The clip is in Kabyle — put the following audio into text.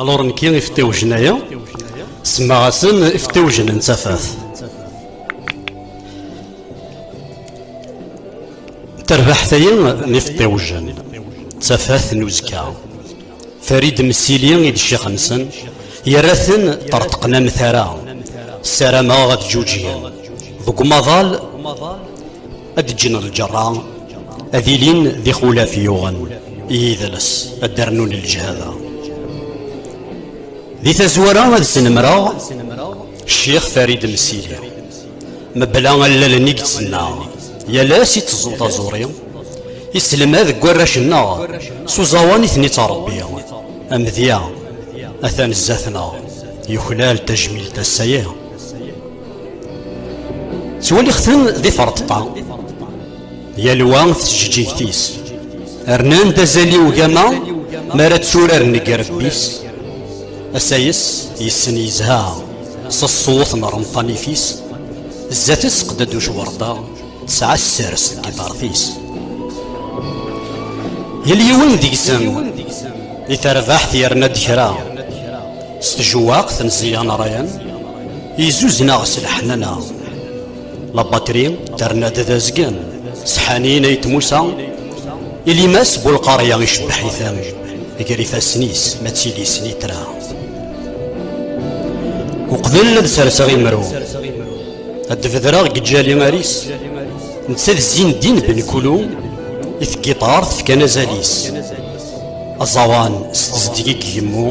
Alors nekki iftiwjen aya semmaɣ-asen iftiwjen n tafat tarbaḥt aya n iftiwjen d tafat n uzekka farid msili i d ccix-nsen yerra-ten ṭerṭqen am tara ssarameɣ ad ǧuǧgen deg umaḍal ad ǧǧen lǧerra ad ilin d ixulaf yuɣen i yidles ad d-rnun lǧehada di tazwara ad snemreɣ ccix farid msili mebla allalen i yettnaɣ yal ass i teẓẓu taẓuri iselmad deg warrac-nneɣ s uẓawan i ten-ittṛebbi amedya atan zdat-neɣ yuklal tajmilt ass-agi ttwalixten di ferṭeṭṭa yalwa tjeǧǧigt-is rnan-d azal i ugama mi ara tturaren deg irebbi-s asayes yessen yezha s ṣṣut n ṛemṭanit-is zdat-s qded ucwerṭa tesɛa ssers deg iḍaṛt-is yal yiwen deg-sen i terbaḥt yerna-d kra s tjewwaqt n ẓẓyan ṛyan Izuzneɣ s leḥnana La batri terna-d d azgen Sḥanin ay tmusa Ilimas bu lqarya icebbeḥ-iten Gar ifassen-is ma d tili snitra Uqbel ad serseɣ imru Ad d-bedreɣ deg ǧali aris Netta d zzin ddin ben kulu I tgiṭart fkan azal-is Aẓawan s tezdeg i yemmu